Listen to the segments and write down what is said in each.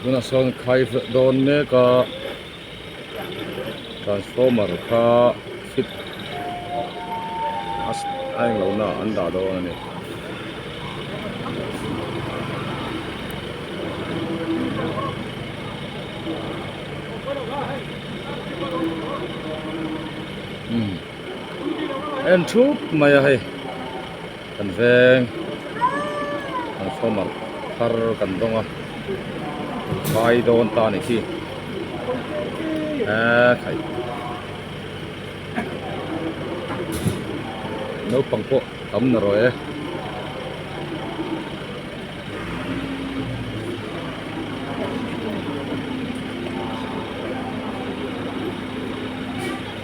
tunah sawn khai felh dawn mek a transformer kha fit a eng lo na an dah dawn a ni umm a en thup mai a hei kan veng transformer thar kan dawng a khai dawn ta a ni khi eee khai naupang pawh tam ta rawh e.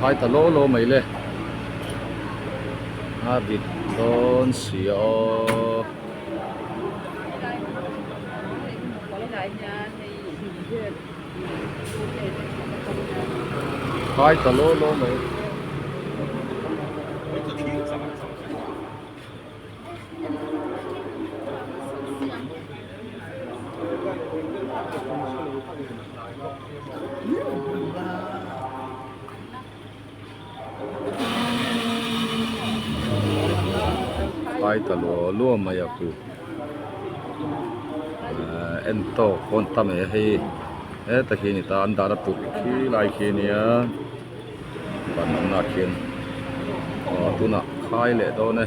khai ta lo lo mai le a dik dawn si a khai ta lo lo mai. Pai ta luau luau mai a ku eh en tawk pawn ta mai a hei heta khi a ni ta an dahna tur khi lai khi a ni a. Ban an lak hian aw tunah khai leh dawn e.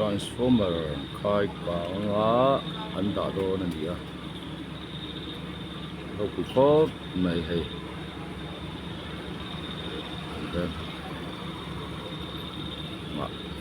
transformer khai panga an dah dawn a ni a ropui khawp mai hei dah hnah.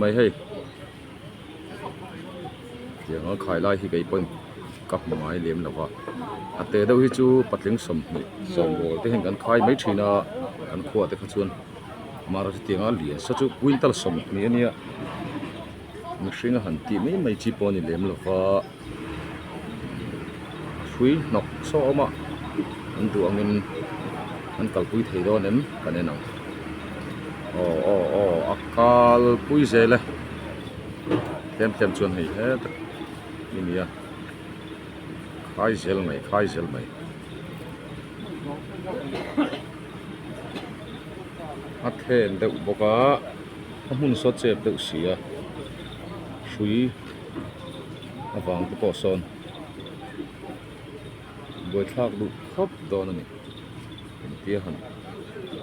mai hei tiang a khai lai hi kei pawhin ka hmu ngai lem lo va a teh deuh hi chu patling sawmhnih sawmawr te hian kan khai mai thin a kan khuah te kha chuan mar a tiang a lian sa chu quintal sawmhnih a nia mihring a han tih mai mai chi pawh a ni lem lo va. hrui hnawk sawma an duh angin an kalpui thei dawn em kan enang aw aw aw a kalpui zel e tlem tlem chuan hei he tak i ni a khai zel mai khai zel mai a thlen deuh bawk a a hmun saw chep deuh si a hrui-- a vang te pawh sawn buaithlak duh khawp dawn a ni engtia han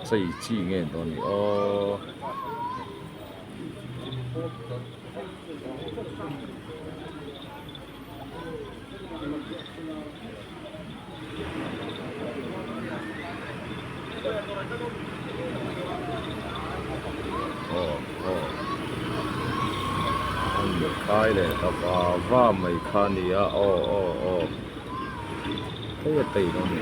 chei chi nge dawn a ni aww. khai leh ka va va mai kha nia aw aw aw kei a tei lo ni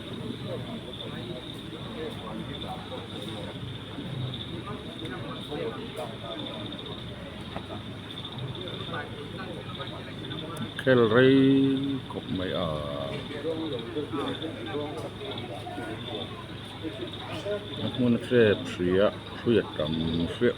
khel rei khawp mai a. A hmun hrep hria hrui a tam hriah.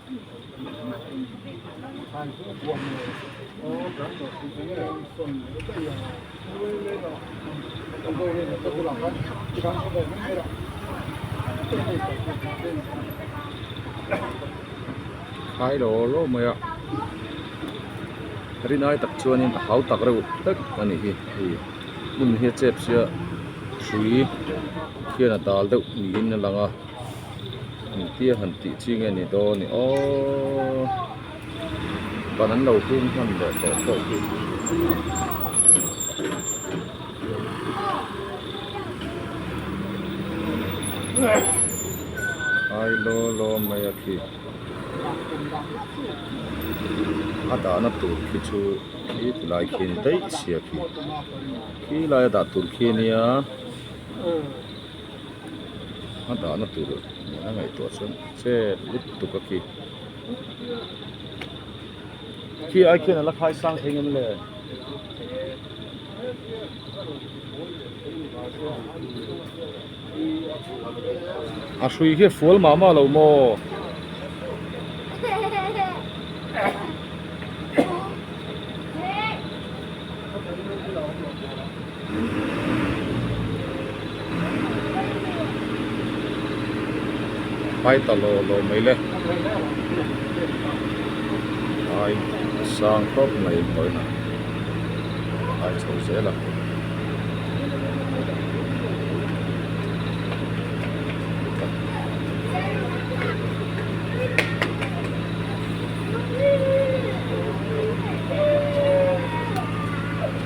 Khai lo lo mai a, ri nai tak chuanin a hau tak reuh hek a nih hi hei hmun hi a chep sia hrui khian a dal deuh niin a lang a. Engtia han tih chi nge ni daw ni aww ban an lo hung hman leh tawh tawh hi. Ai law law mai a khi a dahna tur khi chu khi ti lai khi ni daih si a khi khi lai a dah tur khi a nia. a dahna tur nihna ngaihtuah chuan chet lutuk a ki khi ai khian ala khai sang thei ngam le. a hrui hi fual mah mah lo maw Hmai ta lo lo mai le ai a sang tawp mai pawhin a ai chho zel a.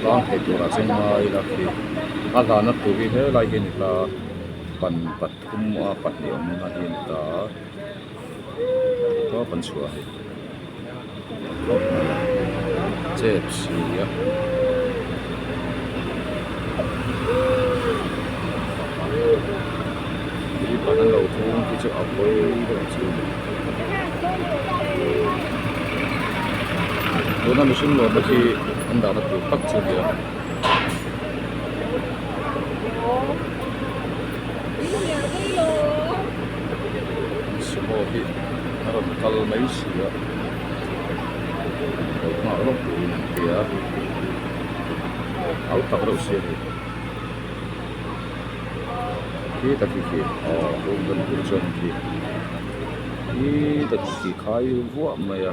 Tlang theih turah chuan ngai ila khi a hlan a thu hi helai hi a ni hla a pan pathum a pahnih awm na hi a ni ta a. tawp an chhuah a khawp mai a chep si a. tuna mihring lawmna khi an dahna tur tak chu a ni a. sumo hi a rawn kal mai si a kal nghah lawk tur in an bia a hau tak reuh si a ni khi ta khi khi aww room ka luh leh chuan in khi khi ta khi khi khai vuah mai a.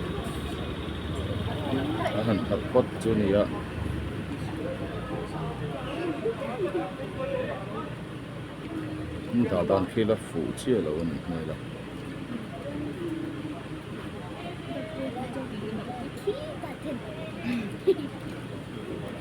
a han khat phawt chu a ni a. Dah dan khi la fuh chiah lo a nih hmel a.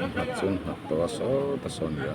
pakhat chuan nghat tawh a sawt a sawn nia.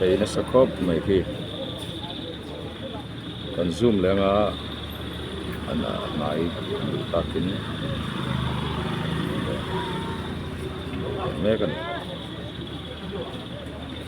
bei nasa khawp mai khi kan zoom leh anga an ah ngai duh takin mek a ni.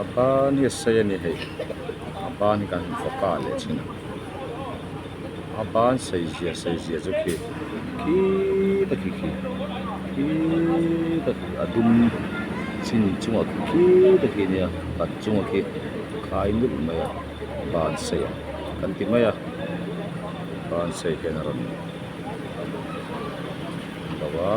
a ban hi a sei a ni hei a ban hi kan fawk a leh chhin ang a ban sei zia sei zia chu khi khi ta khi khi khi ta khi a dum chhin chungah khi ta khi a nia pat chungah khi khai ngulh mai a ban sei ang kan ti mai a ban sei hian a rawn lo a.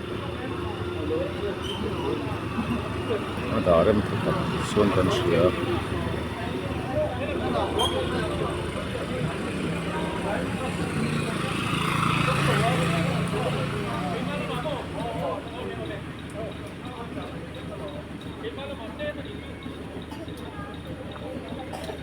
a dah rem tha tak chuan kan hria.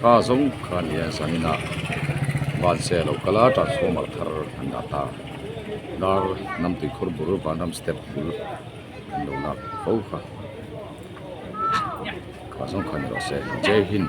ka zawng kha ni a san in a van se a lo kal a transformer thar an dah ta dar hnam tui khawr bul vanram step bul an lo lak fo kha ka zawng kha ni loh a se jai hind.